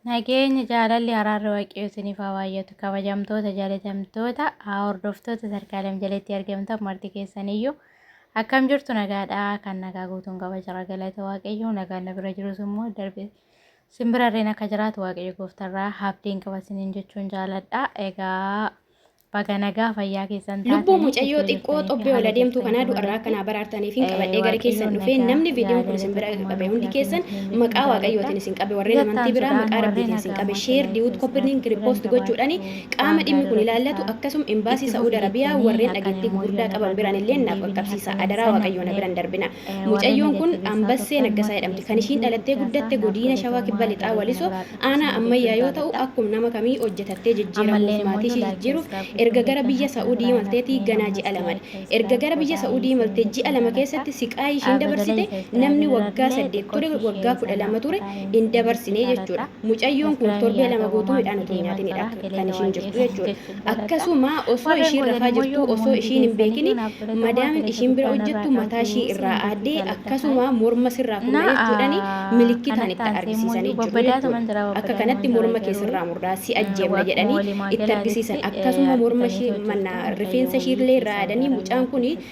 Nageenyi jaalalli araarri waaqayyoo isiniif haa baay'atu kabajamtoota jaalatamtoota haa hordoftoota sarkaalem jalatti argamtan marti keessaniyyuu akkam jirtu nagaadha kan nagaa guutuun qaba jira galata waaqayyoo nagaan na bira jirus immoo darbe simbirarreen akka jiraatu waaqayyo gooftarraa habdiin qaba isiniin jechuun jaaladha egaa Baga nagaa fayyaa keessan taatanii Lubbuu mucayyoo xiqqoo xobbee ol adeemtuu kanaa du'arraa akka naa baraartaniif hin qabadhee gara keessan dhufee namni viidiyoon kun isin bira qabe hundi keessan maqaa waaqayyootiin isin qabe warreen amantii biraa maqaa rabbiitiin isin qabe sheer diwut koppirniin kiripoost gochuudhaan qaama dhimmi kun ilaallatu akkasum imbaasii sa'uud arabiyaa warreen dhageettii gugurdaa qaban biraan illee naaf qaqqabsiisa adaraa waaqayyoo na biran darbina mucayyoon kun ambassee naggasaa jedhamti kan ishiin dhalattee guddatte godiina shawaa kibba lixaa walisoo Aanaa Ammayyaa yoo ta'u akkum nama kamii hojjetattee jijjiiramuuf maatii ishii jijjiiruuf erga gara biyya Sa'uudii imalteeti ganaa ji'a lamadha. Erga gara biyya Sa'uudii imalte ji'a lama keessatti siqaayii ishiin dabarsite namni waggaa saddeet ture waggaa kudha lama ture hin dabarsine jechuudha. Mucayyoon kun torbee lama guutuu midhaan utuu hin nyaatinidha kan ishiin jirtu jechuudha. Akkasuma osoo ishiin rafaa jirtuu osoo ishiin hin beekin madaamin ishiin bira hojjettu mataa ishii irraa aaddee akkasuma morma sirraa fudhna jechuudhaan milikkitaan itti argisiisanii jiru jechuudha. Akka kanatti morma kee sirraa murdaa si ajjeefna jedhanii itti argisiisan akkasuma morma ishii manna rifeensa ishii illee irraa aadanii mucaan kun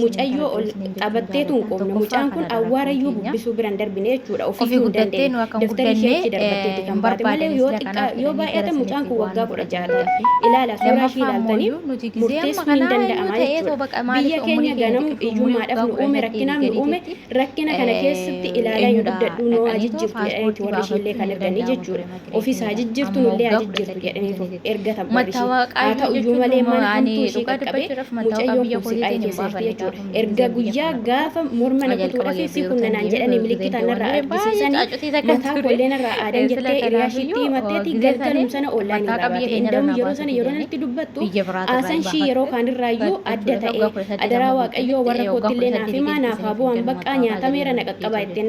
mucayyoo ol qabattee tun qoomne mucaan kun awwaarayyuu bubbisuu biran darbine jechuudha ofiituu hin dandeenye daftari ishee achi darbatteetti kan baate malee yoo xiqqaa yoo baay'ate mucaan kun waggaa kudha ja'a ta'e ilaala suuraa ishii ilaaltanii murteessuun hin danda'ama jechuudha biyya keenya ganamu iyyummaadhaaf nu uume rakkinaaf nu uume rakkina kana keessatti ilaalaa hin guddadhuu noo ajijjirtu jedhaniiti warri ishiillee kan erganii jechuudha ofiis haa jijjiirtu nullee haa jijjiirtu jedhaniitu ergata warri ishee haa ta'u iyyuu malee mana hamtuu ishee qaqqabee mucayyoon kun siqaa'ee keessa jirti jechuudha erga guyyaa gaafa morma na kutuudhaaf si kunna naan jedhanii milikkitaan narraa argisiisanii mataa kollee narraa aadan jettee hiriyaa ishiitti himatteeti galgalum sana oollaan irraa baate enda'uun yeroo sana yeroo natti dubbattu aasan ishii yeroo kaanirraayyuu adda ta'ee adaraa waaqayyoo warra koottillee naaf himaa naaf haa bu'an baqqaa nyaatameera na qaqqabaa ittiin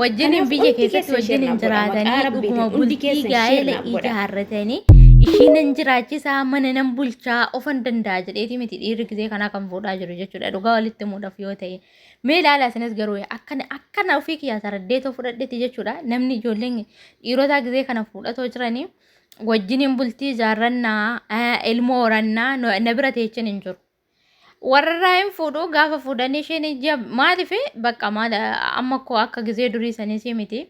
wajjiniin biyya keessatti wajjiniin jiraatanii dhuguma bultii gaa'ela ijaarratanii ishii nan jiraachisaa mana nan bulchaa ofan danda'a jedheeti miti dhiirri gisee kanaa kan fuudhaa jiru jechuudha dhugaa walitti muudhaaf yoo ta'e mee ilaalaa isinis garuu akkana akkana ofii kiyyaa saraddeetoo fudhadhetti jechuudha namni ijoolleen dhiirotaa gisee kana fuudhatoo jiranii wajjiniin bultii ijaarrannaa ilmoo horannaa na bira teechin hin jiru. Warrarraa hin fuudhu gaafa fuudhanii isheen ija maaliif bakka maal amma koo akka gizee durii saniisii miti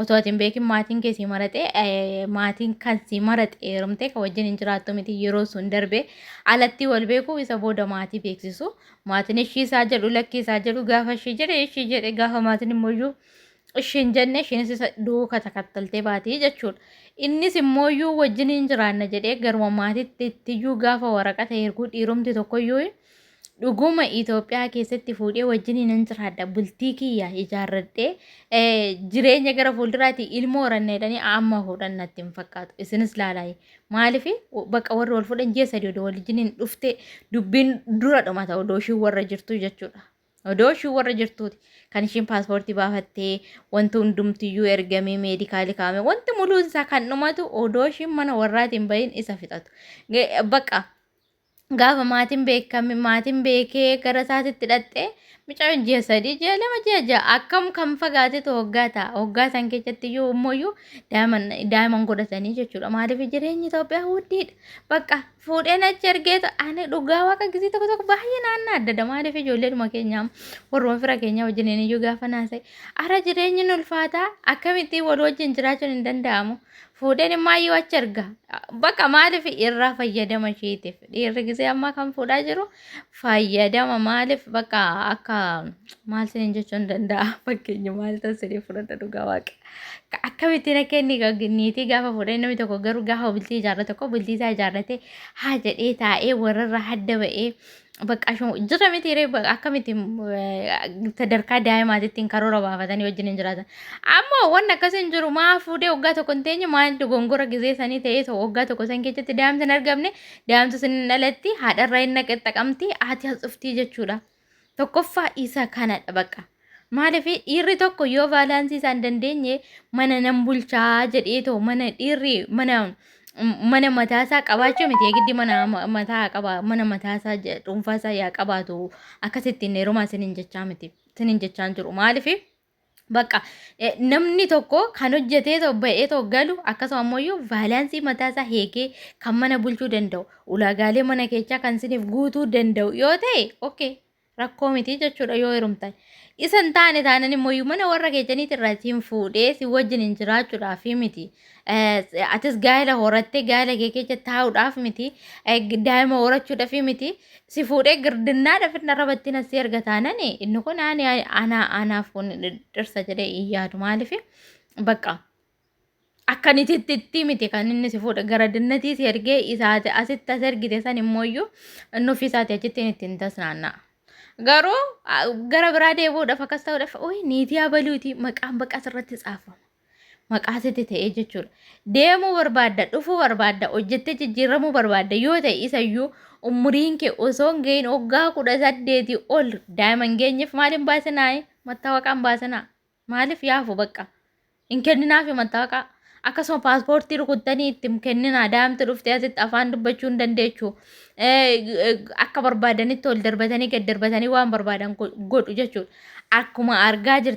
otoo ati hin beekin maatiin kee sii maraxe maatiin kan sii maraxe heerumtee kan wajjin hin jiraattu miti yeroo sun darbe alattii wal beeku isa booda maatii beeksisu maatiin ishii isaa jedhu lakkii isaa jedhu gaafa ishii jedhe ishii jedhe gaafa maatiin immoo iyyuu ishiin jenne isheenis isa duuka takattaltee baati jechuudha. Innis immooyyuu wajjin hin jiraanna jedhee garuma maatiitti ittiyyuu gaafa waraqata erguu dhiirumti tokkoyyuu dhuguma Itoophiyaa keessatti fuudhee wajjin hin jiraadha bultii kiyya ijaarradhee jireenya gara fuulduraati ilmoo horanna jedhanii amma fuudhan natti hin fakkaatu. Isinis laalaayi. Maaliif bakka warri wal fuudhan ji'a sadii odoo wal wajjin hin dhufte dubbiin dura dhumata odoo ishiin warra jirtu jechuudha. Odoo ishiin warra jirtuuti kan ishiin paaspoortii baafattee wanti hundumtiyyuu ergamee meedikaali kaa'ame wanti muluun isaa kan dhumatu odoo ishiin mana warraatiin bahin isa fixatu. Bakka gaafa maatiin beekame maatiin beekee gara isaatitti dhaqxee mucaan ji'a sadii ji'a lama ji'a ja'a akkam kan fagaatetu hoggaa ta'a hoggaa san keessatti iyyuu immoo iyyuu daa'iman godhatanii jechuudha maaliif jireenyi Itoophiyaa huddiidha bakka fuudheen achi ergeetu ani dhugaa waaqa gisii tokko tokko baay'ee naannaa adda adda maaliif ijoolleedhuma keenyaa warruma fira keenyaa wajjin iyyuu gaafa naasa'e ara jireenyi nu ulfaataa akkamittiin wal wajjin jiraachuun hin danda'amu fuudheen immaayyuu achi erga baqa maaliif irraa fayyadama isheetiif dhiirri gisee ammaa kan fuudhaa jiru fayyadama maaliif bakka akka maal sinin jechuun danda'a fakkeenya maal ta'u siree fudhadha dhugaa waaqa akkamitti na kenni niitii gaafa fuudhee namni tokko garuu gaafa bultii ijaarrate tokko bultii isaa ijaarrate haa jedhee taa'ee warrarra hadda ba'ee bakka shoo jira miti ree bakka akkamitti sadarkaa daa'imaatitti hin karoora baafatanii wajjin hin jiraatan ammoo wanni akkasii hin jiru maa fuudhee waggaa tokko hin teenye maa dogongora gizee sanii ta'ee ta'u waggaa tokko san keessatti daa'imti hin argamne Daa'imtu sin hin dhalatti haadharraa hin naqaxxaqamti haati as dhuftii jechuudha. Tokkoffaa isa kanadha baqa. Maaliif dhiirri tokko yoo vaalaansii isaa hin dandeenye mana nan bulchaa jedhee too mana dhiirri mana mana mataasaa qabaachuu miti eegiddi mana ma- mataa qaba mana mataasaa je- dhuunfaasaa yaa qabaatu akkasitti hin heerumaa sinin jechaa miti sinin jechaan jiru maaliif Bakka eh, namni tokko kan hojjetee too ba'ee too galu akkasuma ammoo iyyuu vaalaansii mataa isaa heegee kan mana bulchuu danda'u ulaagaalee mana keechaa kan isiniif guutuu danda'u yoo ta'e okay rakkoo miti jechuudha yoo heerumtan. Isa hin taane taanan immoo iyyuu mana warra keechaniitti irraa isin fuudhee si wajjin hin jiraachuudhaaf miti. atis gaa'ela horattee gaa'ela kee keessa taa'uudhaaf miti daa'ima horachuudhaaf miti si fuudhee girdinnaadhaaf inni irra battiin asii erga taanan inni kun ani anaa anaaf kun dhirsa jedhee hin yaadu maaliif bakka akkanititti itti miti kan inni si fuudha gara dinnatii si ergee isaati asitti as ergite san immoo iyyuu inni ofii isaati achitti itti hin tasnaanna'a. Garuu gara biraa deebi'uudhaaf akkas ta'uudhaaf ooyi niitii abaluuti maqaan baqas irratti caafama. maqaa sitti ta'ee jechuudha. Deemuu barbaadda, dhufuu barbaadda, hojjettee jijjiiramuu barbaadda yoo ta'e isayyuu umuriin kee osoo hin ga'iin waggaa kudha saddeeti ol daa'ima hin geenyeef maal hin baasinaa? Mattaawaqaa hin baasinaa. Maaliif yaafu bakka? Hin kenninaafi mattaawaqaa. Akkasuma paaspoortii rukuttanii itti hin kenninaa. Daa'imti dhuftee asitti afaan dubbachuu hin dandeechu. Akka barbaadanitti ol darbatanii gad darbatanii waan barbaadan godhu jechuudha. Akkuma argaa jirtan.